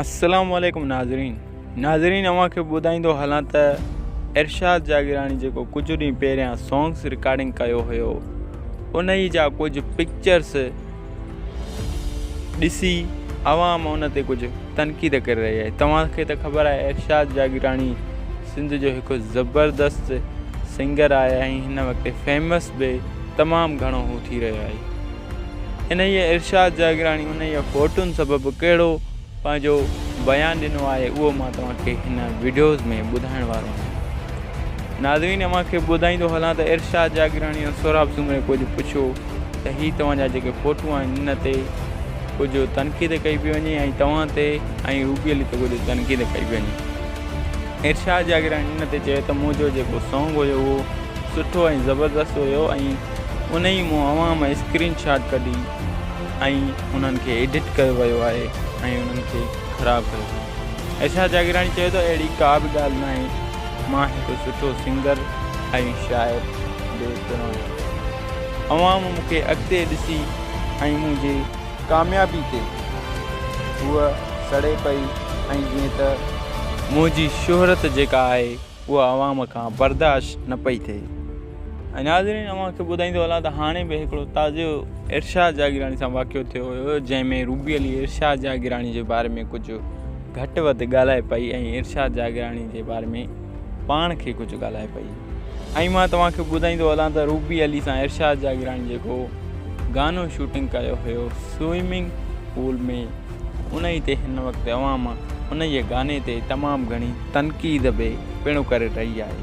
السلام عليڪم ناظرين ناظرين اوهان کي ٻڌائيندو هلان ته ارشاد جاگيراڻي جيڪو ڪجهه ڏينهن پهريان سانگس رڪارڊنگ ڪيو هيو انهي جا ڪجهه پڪچرس ڏسي عوام ان تي ڪجهه تنقيد ڪري رهي آهي توهان کي ته خبر آهي ارشاد جاگيراڻي سنڌ جو هڪ زبردست سنگر آهي ۽ هن وقت فيمس به تمام گهڻو هو ٿي رهيو آهي انهيء ارشاد جاگيراڻي انهيء فوٽون سبب ڪهڙو پنهنجو بيان ڏنو آهي اهو مان توهان کي هن وڊيوز ۾ ٻڌائڻ وارو آهيان. ناظرين اوهان کي ٻڌائيندو هلان ته ارشاد جاگيراڻي ۽ سهراب سومري ڪجهه پڇيو ته هي توهان جا جيڪي فوٽون آهن ان تي ڪجهه تنقيد ڪئي پئي وڃي ۽ توهان تي ۽ روبي علي تي ڪجهه تنقيد ڪئي پئي وڃي. ارشاد جاگيراڻي ان تي چيو ته منهنجو جيڪو سانگ هيو اهو سٺو ۽ زبردست هيو ۽ انهي مون اوهان مان اسڪرين شاٽ ڪڍي ۽ انهن کي ايڊٽ ڪيو ويو آهي ۽ انهن کي خراب ڪيو ويو آهي ايشا جاگيراڻي چيو ته اهڙي ڪا به ڳالهه ناهي مان هڪ سٺو سنگر ۽ شاعر به پڻ آهيان عوام مون کي اڳتي ڏسي ۽ منهنجي ڪاميابي تي هوء سڙي پئي ۽ جيئن ته منهنجي شهرت جيڪا آهي اها عوام کان برداشت نه پئي ٿئي ۽ ناظرين اوهان کي ٻڌائيندو هلان ته هاڻي به هڪڙو تازو ارشاد جاگيراڻي سان واقعو ٿيو هيو جنهن ۾ روبي علي ارشاد جاگيراڻي جي باري ۾ ڪجهه گهٽ وڌ ڳالهائي پئي ۽ ارشاد جاگيراڻي جي باري ۾ پاڻ کي ڪجهه ڳالهائي پئي ۽ مان توهان کي ٻڌائيندو هلان ته روبي علي سان ارشاد جاگيراڻي جيڪو گانو شوٽنگ ڪيو هيو سوئمنگ پول ۾ انهيء تي هن وقت عوام انهيء گاني تي تمام گهڻي تنقيد به پڻ ڪري رهي آهي.